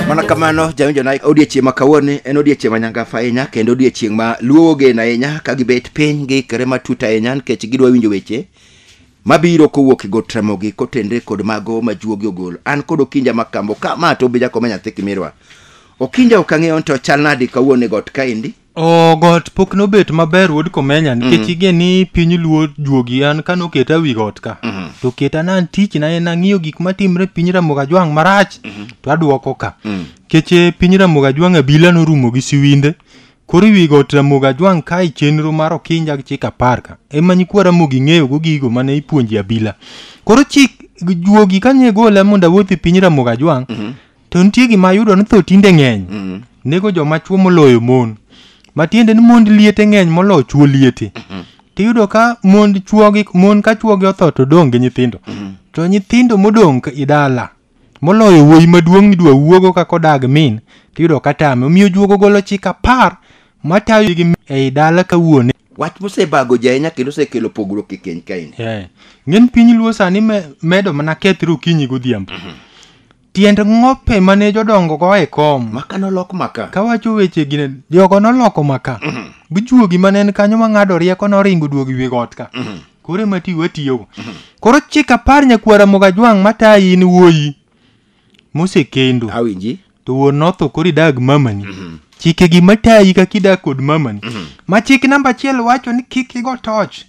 mana kamano jawinjo na odiechieng' ma kawuoni en odiechieng' ma nyangafa ahinya kendo odiechieng' ma luo ogeno ahinya ka gibet piny giikre matut ahinya nikech gidwa winjo weche mabiro kowuok e got ramogi kotenre kod mago ma juogi ogolo an kod okinja makambo ka ma to obija koma nyathi kimirwa okinja ok ang'eyo ni to chal nadi kawuono e got kaendi Oh, got pok nobet maber wuod komenya nikech mm. ige ni piny luo juogi an ka noketa wi got ka mm -hmm. to keta na tich na en ang'iyo gik matimre piny ramoga jwang' marach mm -hmm. to aduoko ka mm. keche piny ramoga jwang' abila norumo gi siwinde koro wi got ramoga jwang' kae chenro mar okinja gi chik apar ka ema nyikwa ramogi ng'eyo go gigo mane ipuonji abila koro chik juogi kanye gola mondo awuothi piny ramoga jwang' mm -hmm. to nitie gima ayudo ni tho tinde ng'eny Mm. nego joma chwo moloyo mon matiende ni mond liete ng'eny moloyo chwo liete tiyudo ka mond chwogi mon ka chwogi otho to dong' gi nyithindo to nyithindo modong' ka i dala moloyo wuoyi maduong' nidwa wuogo kaka odag min tiyudo ka tame omiyo juogo golo chik apar matayo gi ei dala ka wuone wach mosebago ji ahinya kendo osekelo pogruok e keny kaeni Yeah. ng'eny piny luo sani me- medo mana kethre okinyi godhiambo Tiend ng'ope mane jodongo go e kom. Maka nolok maka. Kawacho weche gine, jogo noloko maka. Mhm. Bujuogi mane en kanyo mang'ado rieko noringo duogi wi got ka. Mhm. Koro ema ti watiyogo. Mhm. Koro chik apar nyakwara Mogajwang' matayi in wuoyi mosekendo. Awinji. To wuon notho koro idag mamani. Chike gi matayi kaka idak kod mamani. Ma chik namba achiel wacho ni kik igo toch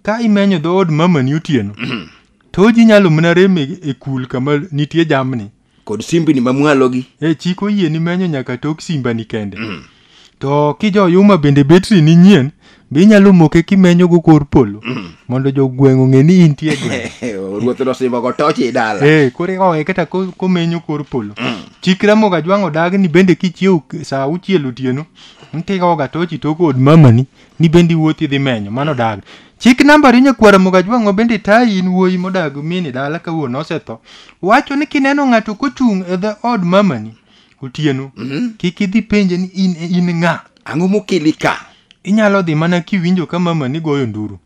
ka imenyo dhood mamani otieno. To ji nyalo mana rem e e kul kama nitie jamni. kod simbni mamwalogi E chik oyie ni menyo nyaka tok simbani kende. To kijo yuma bende betri ni nyien, be inyalo moke kimenyo go kor polo mondo jogweng' ong'e ni intie e gweng'. ruoth nosimbogo toch i dala Eh, koro ikawe kata ko- komenyo kor polo. Chik Ramoga Jwang' odagi ni bende kichiew k- saa auchiel otieno, ntigoga tochi tok od mamani ni bende iwuothi idhi menyo mano dag chik nambari nyakwara mogajwang'o bende tayi in wuoyi modag mini dala ka wuon osetho wacho ni kineno ng'ato kochung' e dho od mamani otieno kik idhi penje ni in, in ng'a ang'o mokeli ka inyalo dhi mana kiwinjo ka mamani goyo nduru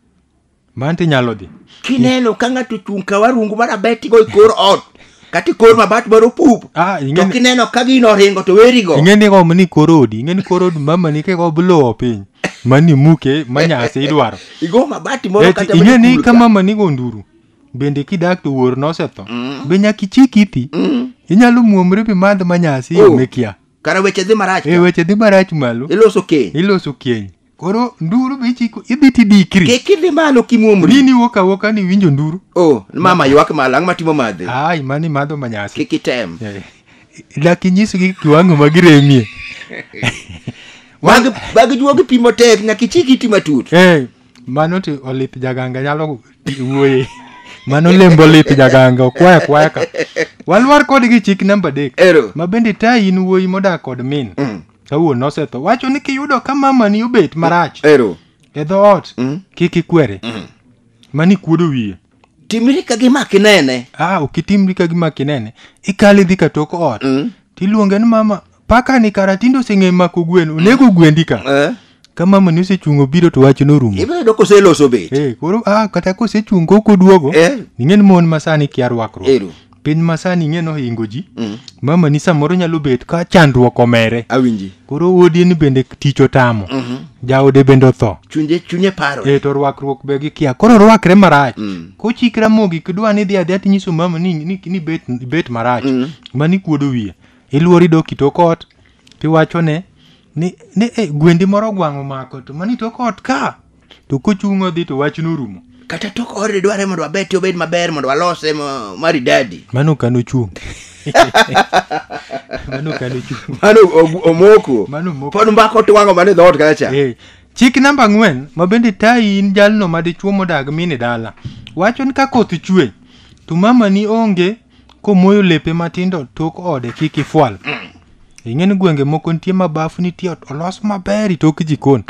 man to inyalo dhi kineno ka ng'ato ochung' ka warungu mar abetigo e kor ot kata e kor mabat mar opup Ah, to ing'eni- kineno ka gino oringo to werigo ing'eni kom ni kor odi ing'eni kor odi mama ni keko blowo piny mani muke manyasi idwaro igo mabati moro Eti, kata ing'e ni machul ka ka. mama ni gonduru bende kidak to wuor nosetho be nyaka ichik ithi inyalo muomri bi madh manyasi Oh. yo mikia kara weche dhi marach e ka. weche dhi marach malo iloso keny iloso keny koro nduru be ichiko idhi tidikri kik idhi malo kimwomri nini wuok awuoka ni winjo nduru o mama ywak malo ang'o matimo madhe ai mani madho manyasi kik item Eh, dak inyisgi kiwango ma giremie Mag- bag juogi pi motek nyaka ichik iti matut Eh, mano to olith jaganga nyalo wuoye mano lembo olith jaganga okwaya kwaya ka walwar kodgi chik namba adek ero ma bende ta in wuoyi modak kod min Mm. kawuono osetho wacho ni kiyudo ka mamani obet marach ero e dhoot Mm. kik ikwere mani kuodo wiye timri ka gima kinene ah ok itimri ka gima kinene ikale dhi ka tok ot Mm. tiluonge ni mama paka ni kara tinde oseng'e mako gwen onego gwendi ka Eh, ka mama ni osechung' obiro to wach norumo ibiro yudo koseloso bet Eh, koro ah, kata kosechung' kok oduogo Eh. ing'e ni mon masani kia rwakruok Ero. piny masani ing'e nohingo ji Mm. mama ni samoro nyalo bet ka chandruok omere awinji koro wuodi ni bende tich otamo jaode bende otho chunye chunye paro e to rwakruok be gi kia koro rwakre marach Mm. kochik ramogi kidwa ni dhi adhiya tinyiso mama ni, ni, ni bet, bet marach Mm. mani kuodo wiye iluori dok kitokot tiwachone ni ni e gwendi moro gwang' omako to mani tok ot ka to kochung' odhi to wach norumo kata tok ode dware mondo wabete obed maber mondo walose ma- maridadi mano kano chung' mano kano chung' mano og- omoko mano moko pod mbako twang'o mane dhoot kacha Eh, chik namba ang'wen ma bende tayi in jalno ma dichwo modag mini dala wacho ni ka koth chwe to mamani onge komoyo lepe matindo tok ode kik ifwal ing'e ni gwenge moko nitie ma bafu nitie ot olos maber itok jikon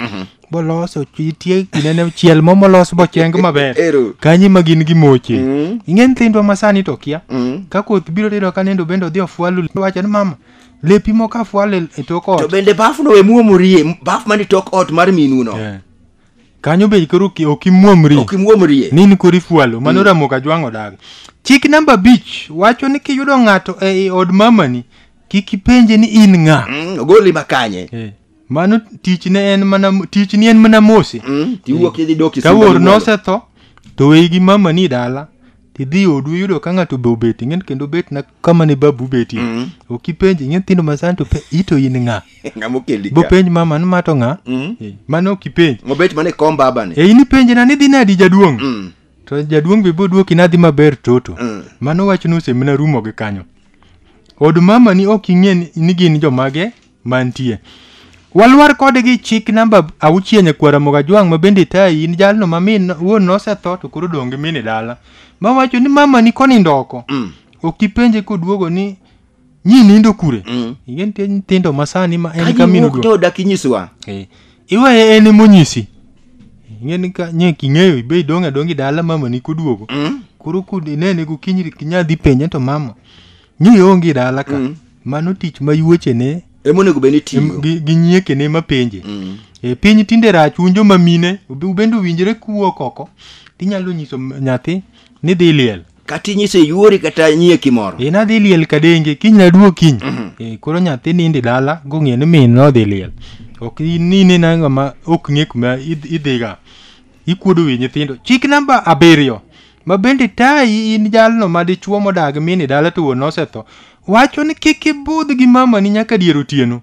boloso nitie kinene chiel mo molos bocheng maber Ero. kanyi ma gin gimoche Mm. ing'e nyithindwa ma sani to kia Mm. ka koth biro tiyudo ka nindo bende odhi ofwalu wacho ni mama lepi moko afwalo e- e tok to ot bende bafno we muomorie baf man e tok ot mar minuno Yeah. kanyo be koro ok- ok imuomri ok imuomrie ni in koro ifualo mano ramo ka jwang'o dago chik namba abich wacho ni kiyudo ng'ato ei od mamani kik ipenje ni in ng'a Mm, ogoli makanye Eh, mano tichne en mana tichni en mana mose Mm, tiwuok idhi dok ka wuor nosetho to weyi gi mama ni dala tidhi odu iyudo ka ng'ato be obet ing'en kendo obet na kama ne babu betie mm. ok ipenj ing'e nyithindo masani to ito in ng'a bopenj mama ni mato ng'a mm. Eh, mano ok ipenj mobet mana e kom babani e eh, in ipenje na nidhi nadi jaduong' mm. to jaduong' be boduoki nadhi maber toto mm. mano wachno osemina rumo gi kanyo od mama ni ok ing'e ni gin jomage mantie. Walwar kode gi chik namba auchiel nyakwar Ramogi Ajwang' ma bende tayi in jalno ma min wuon nosetho to koro odong' gi min e dala. Ma wacho ni mama ni konindo oko. Mm. Ok ipenje koduogo ni nyi nindo kure. Mm. Ing'e nitie nyithindo ma sani ma en ka min Kaji wuok oduogo. to dak inyiswa. Eh, Iweye en emonyisi. Ing'e ni ka nye king'eyo ibe idong' adong' gi dala mama ni koduogo. Mm. Koro kod inene gokinyi kinya dhi penje to mama ni ionge dala ka mm. mano tich ma yuochene emonego bed ni tiyo gi, gi nyiekene mapenje mm. e, piny tinde rach un joma mine ubende owinjore kuwuok oko tinyalo nyiso nyathi ni dhi liel kata inyise yuori kata nyieki moro e, nadhi liel kadenge kiny naduo kiny mm -hmm. e, koro nyathi nindi dala gong'e ni min nodhi liel ok nine nangama ok ng'e kuma idhiga ikuodo wi nyithindo chik namba abiriyo ma bende tayi in jalno ma dichwo modag min e dala to wuon osetho wacho ni kik ibudh gi mamani nyaka dier otieno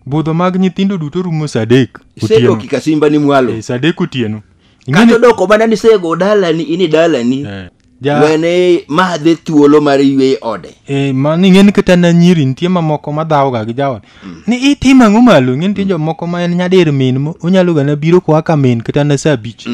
budho mag nyithindo duto rumo saa adek otieno sedoki ka simba ni mwalo Eh, saa adek otieno kata Ing'eni- odoko mana ni sego dalani in e dalani Eh, ja- wene madhe thuolo mar ywe ode Eh, ma ni ng'eni kata na nyiri nitie mamoko ma dhawoga gi jaot ni itimo ang'o malo ng'eni nitie jomoko ma en nyadir min mo- onyalo gana biro koa ka min kata na saa abich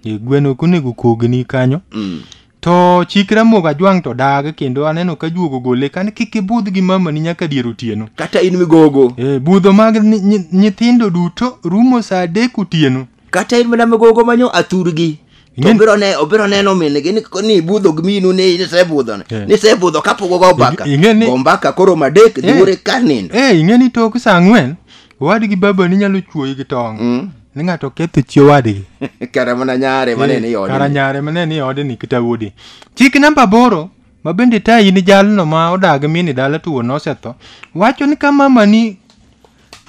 Eh, gweno ok onego kogni kanyo Mm. to chik ramogi ajwang' to dag kendo aneno ka juogo gole kane kik ibudh gi mamani nyaka dier otieno kata in migogo Eh, budho mag ni- nyi- nyithindo duto rumo saa adek otieno kata in mana migogo manyo athurgi to Ing'e- obiro ne obiro neno minigi ni ko- ni budho gi minu ni nisebudho ne Eh. nisebudho kapok ogo mbaka Ing'e ni- go mbaka koro madek Eh. dhuore ka nindo Eh, ing'e ni tok saa ang'wen Owadgi babani nyalo chuoyi gi tong'. Mm. Ni ng'ato oketho chi owadgi. Kara mana nyare ma ne ni odni. Kara nyare ma ne ni odni kata wuodi. Chik namba aboro ma bende tayi ni jalno ma odag mini dala to wuon osetho wacho ni ka mamani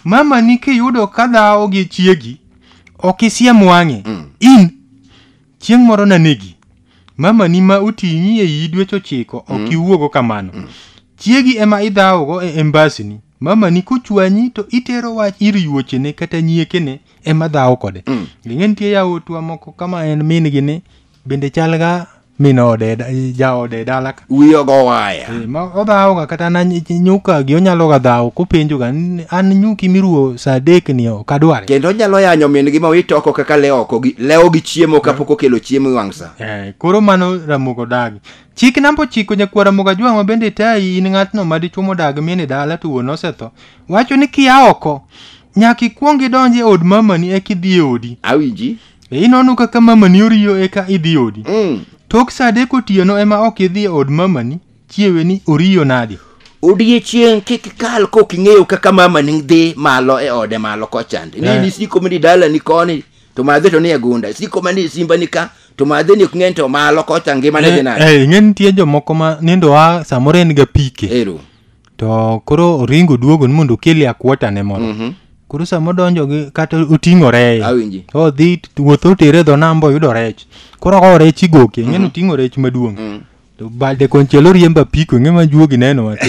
mamani kiyudo ka dhawo gi chiegi ok isiem wang'e in Chieng' moro nanegi. Mamani ma oting'i e iyi dweche ochiko ok iwuogo kamano. Chiegi ema idhawogo e embasini. Mamani kochwanyi to itero wach ir yuochene kata nyiekene ema dhawo kode. Ing'e nitie yawotwa moko kama en min gi ni bende chalga min ode e da- jaode e dala wiye ogo waya Eh, ma odhawoga kata na ny- nyukagi onyaloga dhawo kopenjoga "N- an nyuki miruwo sa adek ni ok adware kendo onyalo yanyo min-gi ma wit oko kaka lewo oko gi- lewo gi chiemo kapok okelo chiemo e wang' sa Eh, koro mano ramogo dagi chik namba ochiko nyakwar ramogo ajwang' ma bende tayi in ng'atno ma dichwo modag min e dala to wuon osetho wacho ni kia oko nyaka ikwong idonj e od mamani eka idhi e odi awinji E inono kaka mamani oriyo eka idhi odi. Mm. Tok saa adek otieno ema ok idhi e od mamani, chiewe ni oriyo nadi. Odiechieng' kik kal kok ing'eyo kaka mamani dhi malo e ode malo kochande. Ni Eh. ni siko mani dala ni koni to madhe to ni e gunda. Siko mani simba ni ka to madhe ni ok ng'eny to malo kocha ngima ne dhi nade. Eh, ing'e nitie jomoko ma nindo a samoro en ga pike. Ero. to koro oringo duogo ni mondo okeli akwota ne moro Mhm. koro sama odonjo gi kata oting'o reye Awinji. odhi t- wuoth otere dho namba oyudo rech koro kawo rech igoke ing'eni oting'o rech maduong' Mm. to balde konchiel oriembo apiko ing'e ma juogi neno wato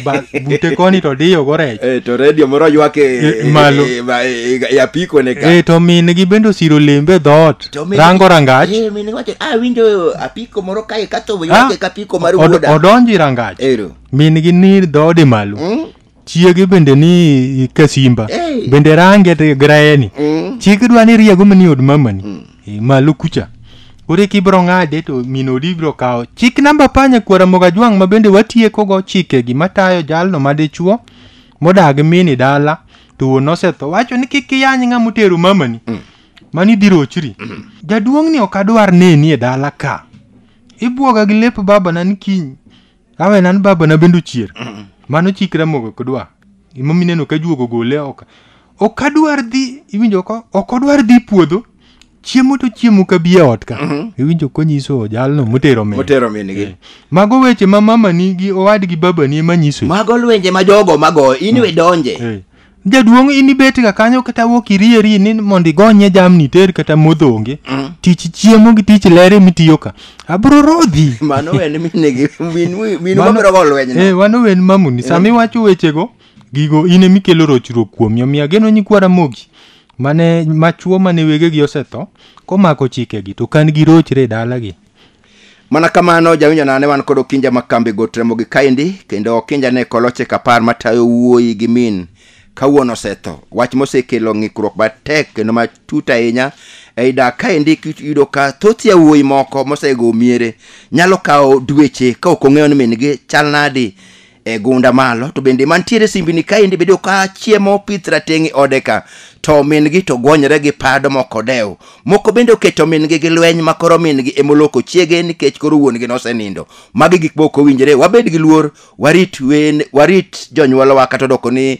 Ba- bute koni to diyogo rech Eh, to redio moro ywak e- Eh, malo. e- ma- e- e- e apiko ne ka e to min gi bende osiro lembe dhoot To min- rango rangach Eh, min wacho, "Ah, winjo apiko moro kae katho Ah, ywak e kapiko mar od- wuoda odonjo i rangach Ero. min gi ni dhoodi malo Mm. chiege bende ni kasimba Hey. bende range te graeni Mm. chiege dwa ni riego mani od mamani e, malo kucha koro kibro ng'ade to min odi bro kawo chik namba panya kwara moga jwang' ma bende watiekogo chikegi matayo jalno ma dichuo modag mini dala to wuon osetho wacho ni kik iyany ng'a motero mamani mani dirochri jaduong'ni ok adwar neni e dala ka ibwoga gi lep babana ni kiny awe nan baba na bendo chier mano chikra mogo kodwa imo mineno ka juogo gole ok ok adwar dhi iwinjo ko ok odwar dhi puodho chiemo to chiemo ka biye ot ka iwinjo konyiso jalno motero me motero minigi mago weche ma mama ni gi owadgi baba ni ema nyiso mago lwenje ma jogo mago in we donje Eh. jaduong' in ibetga kanyo kata wuok irieri ni mondo igonye jamni ter kata modhonge mm. tich chiemo gi tich lere mitiyo ka abro rodhi mano wen minegi minu mabiro go lweny no eh wano wen mamuni eh. sami wacho wechego gigo in emikelo rochruok kuomi omiyo ageno nyikwa ramogi mane machuo mane wegegi osetho komako chikegi to kan gi rochre e dalagi mana kamano jawinjo nane wan kod okinja ma kambi got ramogi kaendi kendo okinja ne koloche kapar matayo wuoyi gi min kawuono osetho wach mosekelo ng'ikruok matek kendo matut ahinya ei dak kaendi kiyudo ka thoth yawuoyi moko mosego miere nyalo kawo dweche ka ok ong'eyo ni min-gi chal nadi e gunda malo to bende mantiere simbini kaendi bedo ka chiemo opith rateng' e ode ka to min-gi to gwonyre gi pado moko dew moko bende oketo min-gi gi lweny ma koro min-gi emoloko chiege nikech koro wuon-gi nosenindo magi gik moko owinjore wabed gi luor warit wen warit jonyuolwa kata odoko ni